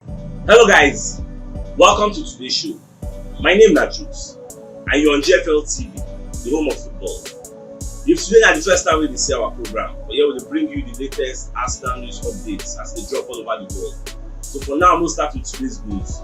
Hello guys, welcome to today's show. My name na Jukes and you're on GFL TV, the home of football. If today na the first time we dey see our program, but here we dey bring you the latest Arsenal news updates as they drop all over the world. So for now, we'll start with today's news.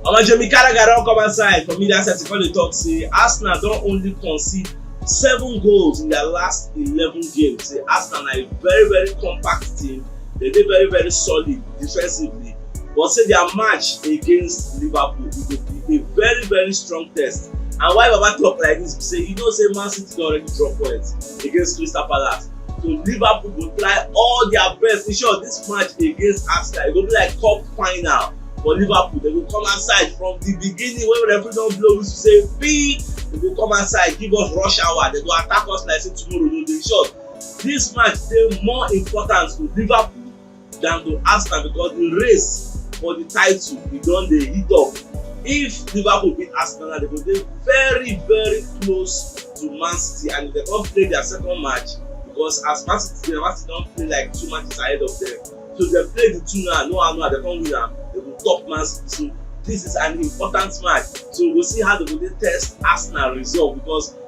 Omo Jamie Carragher don come outside for media set to come dey talk say Arsenal don only concede seven goals in their last eleven games. Say Arsenal na a very very compact team, dem dey very very solid defensively but say dia match against liverpool e go be a very very strong test and why baba tok like dis be say you know say man city don already drop points against crystal palace so liverpool go try all dia best in short dis match against arsenal e go be like cup final for liverpool dem go come outside from di beginning wey referee don blow whistle say pee dem go come outside give us rush hour dem go attack us like say tomorrow no dey short dis match dey more important to liverpool than to Arsenal because the race for the title e don dey heat up. If Liverpool beat Arsenal now, they go dey very very close to Man City and if they come play their second match because as Man City dey, Man City don play like two matches ahead of them. So if they play the two now, no how no how they come win am, they go top Man City. So this is an important match. So we go see how they go dey test Arsenal resolve because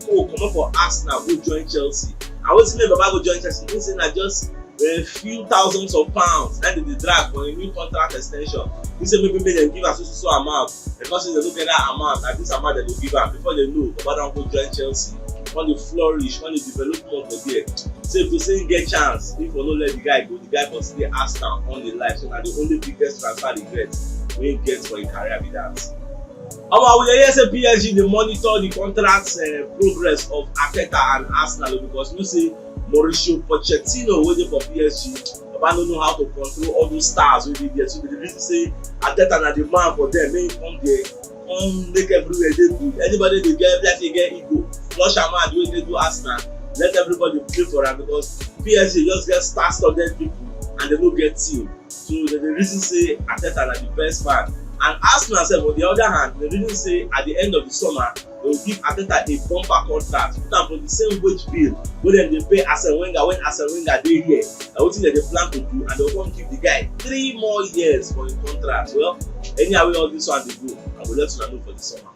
Mourinho comot for Arsenal go join Chelsea and wetin make Baba go join Chelsea mean say na just a few thousands of pounds na dem dey drag for a new contract extension he say maybe make dem give am so so so amount dem come say dem no get that amount na this amount dem go give am before dem know Baba don go join Chelsea come dey flourish come dey develop more for there so if to say he get chance if for no let the guy go the guy for stay Arsenal on the life so na the only biggest transfer regret wey he get for him career be that. Omo we dey hear say PSG dey monitor di contract progress of Arteta and Arsenal because you know say Mauricio Pochettino wey dey for PSG baba no know how to control all those stars wey dey there so dem dey reason say Arteta na di man for dem make im come there come make everywhere dey good anybody dey get be like say e get ego flush am out wey dey do Arsenal let everybody play for am because PSG just get star studded people and dem no get team. So dem dey reason say Arteta na the best man and Arsenal sef on the other hand dey reason say at the end of the summer dem go give Arteta a bumper contract put am for the same wage bill wey dem dey pay Arsene Wenger when Arsene Wenger dey here na wetin dem dey plan to do and dem go come give the guy three more years for him contract well anyhow wey all this one dey go I go let una know for the summer.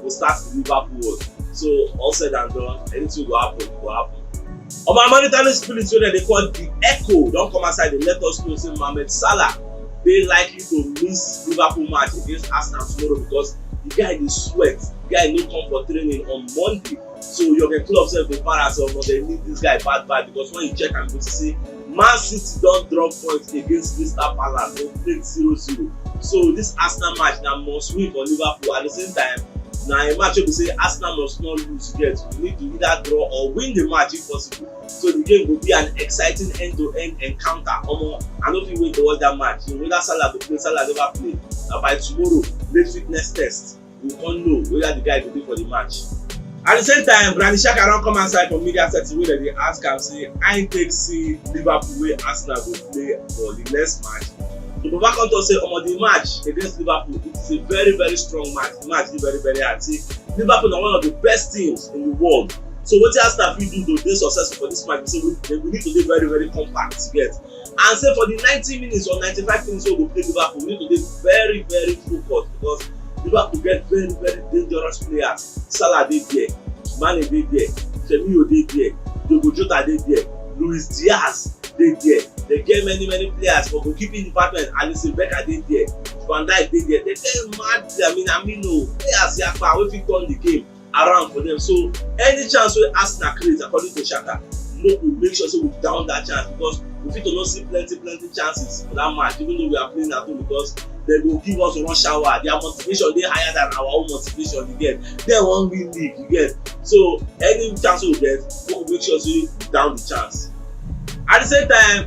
go start to move upward. So all said and done, anything go happen, go happen. Omo Mauritanian spirit wey dem dey call the Echo don come outside dey let us know say Mohamed Salah dey likely to miss Liverpool match against Arsenal tomorrow because the guy dey sweat, the guy no come for training on Monday. So Jurgen Klopp sef dey para say omo dem need this guy bad bad because when you check am you go see say Man City don drop points against Crystal Palace for plate 0-0. So this Arsenal match na must win for Liverpool. At the same time, na a match wey be say Arsenal must not lose yet. We need to either draw or win the match if possible. So the game go be an exciting end-to-end -end encounter. Omo, I no fit wait to watch that match. You know, whether Salah go play, Salah never play. Na by tomorrow, late fitness test. we come know whether the guy go dey for the match. At the same time, Granit Xhaka don come outside for media setting wey dem dey ask am say how im take see Liverpool wey Arsenal go play for the next match. So Baba come talk say omo the match against Liverpool it is a very very strong match, the match dey very very hard say Liverpool na one of the best teams in the world so wetin Arsenal fit do to dey successful for this match be say we need to dey very very compact you get. and say for the ninety minutes or ninety five minutes wey we go play liverpool we need to dey very very focused because liverpool get very very dangerous players salah dey there mane dey there firmino dey there diogo jota dey there luis diaz dey there dem get many many players for goalkeeping department alisson becker dey there van dijk dey there dem get mad amino players yakpa wey fit turn the game around for them. So any chance wey Arsenal create according to Xhaka, make we make sure say we down that chance because we fit to no see plenty plenty chances for that match even though we are playing at home because they go give us one shower their motivation dey higher than our own motivation you get they wan win league you get so any chance wey we get make we make sure say we down the chance at the same time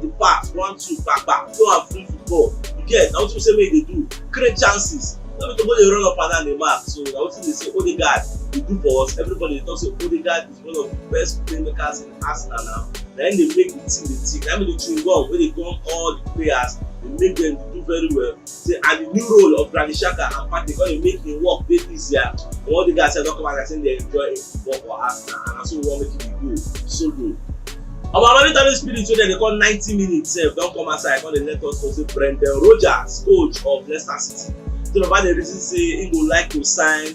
the pass one two kpakpa go and free football you get na wetin be say make you dey do create chances no be to go dey run up and down dey mark so na wetin dey say odegaard dey do for us everybody dey talk say odegaard is one of the best playmakers in arsenal now na him dey make the team dey tick na him be the chewing gum wey dey gum all the players dey make them dey do very well say and the new role of Granit Xhaka and Partey come dey make im work dey easier but all the guys sef don come out like say dem enjoy im football for Arsenal and na so we wan make e dey go solo. Omo monitoring spirit wey dem dey call ninety minutes sef don come outside come dey let us know say Brendan Rodgers coach of Leicester City say baba dey reason say im go like to sign